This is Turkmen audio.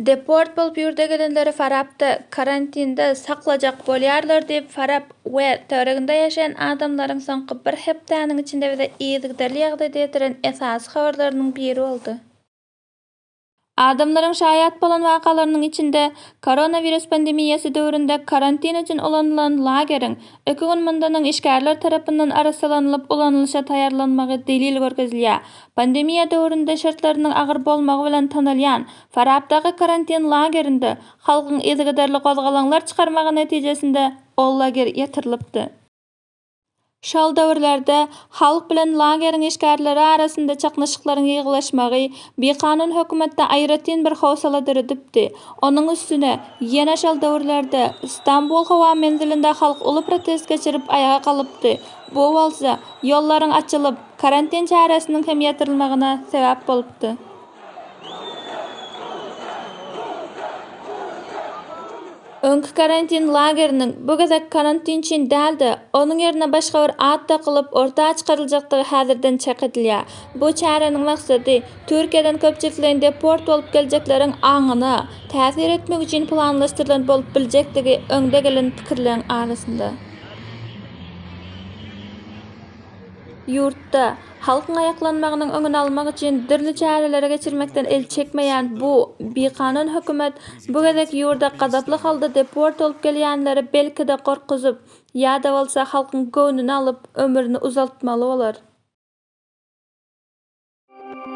Deport bolup ýurda gelenleri Farapda karantinde saklajak bolýarlar diýip, Farap we töwereginde ýaşaýan adamlaryň soňky bir hepdäniň içinde bize yzygiderli ýagdaýda ýetiren esasy habarlarynyň biri boldy. Adamlaryň şaýat bolan wakalarynyň içinde, koronawirus pandemiýasy döwründe karantin üçin ulanylan lageriň, iki gün mundan öň işgärler tarapyndan arassalanylyp ulanylyşa taýýarlanmagy delil görkezilýär. Pandemiýa döwründe şertleriniň agyr bolmagy bilen tanalýan Farapdaky karantin lagerinde halkyň yzygiderli gozgalaňlar çykarmagy netijesinde ol lager ýatyrylypdy. Şol döwürlerde halk bilen lageriň işgärleri arasynda çaknyşyklaryň ýygylaşmagy bikanun hökümetde aýratyn bir howsala döredipdi. Onuň üstüne, ýene şol döwürlerde Stambul howa menzilinde halk uly protest geçirip aýaga galypdy, bu bolsa, ýollaryň açylyp, karantin çäresiniň hem ýatyrylmagyna sebäp bolupdy. Öňki karantin lageriniň bu gezek karantin üçin däl-de, onuň ýerine başga bir at dakylyp, orta çykaryljakdygy häzirden çak edilýär. Bu çäräniň maksady, Türkiýeden köpçülikleýin deport bolup geljekleriň aňyna täsir etmek üçin planlaşdyrylan bolup biljekdigi öňde gelen pikirleriň arasynda. Ýurtda. Halkyň aýaklanmagynyň öňüni almak üçin dürli çäreleri geçirmekden el çekmeýän bu bikanun hökümet bu gezek ýurda gazaply halda deport bolup gelýänleri belki-de gorkuzyp, ýa-da bolsa halkyň göwnüni alyp, ömrüni uzaltmaly bolar.